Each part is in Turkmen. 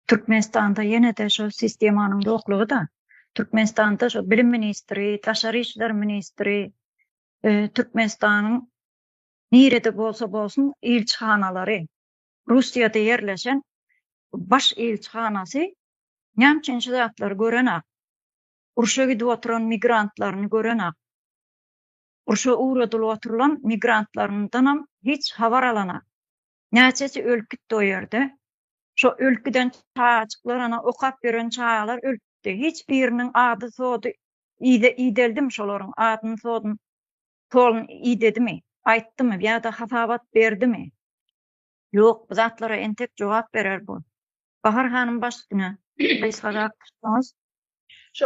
Türkmenistanda ýene-de şol sistemanyň ýoklugy-da, Türkmenistanda şo bilim ministri, daşary işler ministri, Türkmenistanyň nirede bolsa bolsun ilçihanalary, Russiýada ýerleşen baş ilçihanasy näme üçin şu zatlary görenok, urşa gidip oturan migrantlaryny görenok, urşa ugradylyp oturylan migrantlaryndanam hiç habar alanok. Näçesi ölüp gitdi o ýerde. Şo ölüp giden çagajyklar, ana, okap ýören çagalar ölüpdi. Hiç biriniň ady-sody ide ideldimi şolaryň? Adyny-sodyny Tolun idedimi? Aýtdymy ýa-da hasabat berdimi? Ýok, bu zatlara entek jogap berer bu. Bahar hanym başüstüne gysgarak tutsaňyz. Şu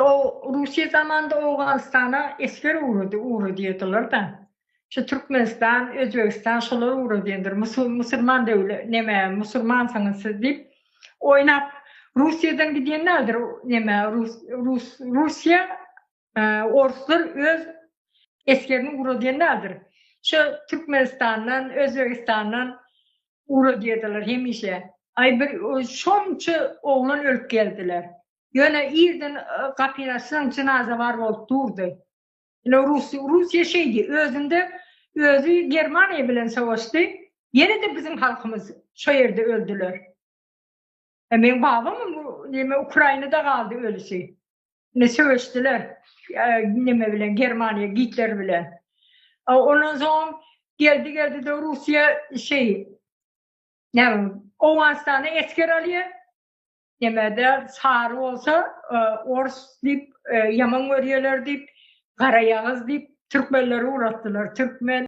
Russiýa zamanynda Owganystana esger ugrady, ugradýardylar-da. Şu Türkmenistan, Özbegistan şolar ugradýandyr. Musulman döwlet, neme, musulmansyňyz siz diýip, oýnap, Russiýadan gidýän däldir, neme, Rus, Rus, Russiýa Orslar öz esgerini ura diýen däldir. Şo Türkmenistandan, Özbegistandan ura diýerdiler hemişe. Aý bir şonça oglan ölüp geldiler. Ýöne irden gapyny açsaň jynaza bar bolup durdy. Ine rus Russiýa şeýdi. Özünde özi Germaniýa bilen sowaşdy. Ýene-de biziň halkymyz şo ýerde öldüler. E, men babam neme Ukrainada galdy ölüsi. Ne söweşdiler e, neme bilen Germaniýa Gitler bilen. E, ondan soň geldi geldi de Russiýa şey näme Owganistana esker alýar. Nemede sary bolsa e, ors diýip e, ýaman görýärler diýip, garaýagyz diýip türkmenleri uratdylar. Türkmen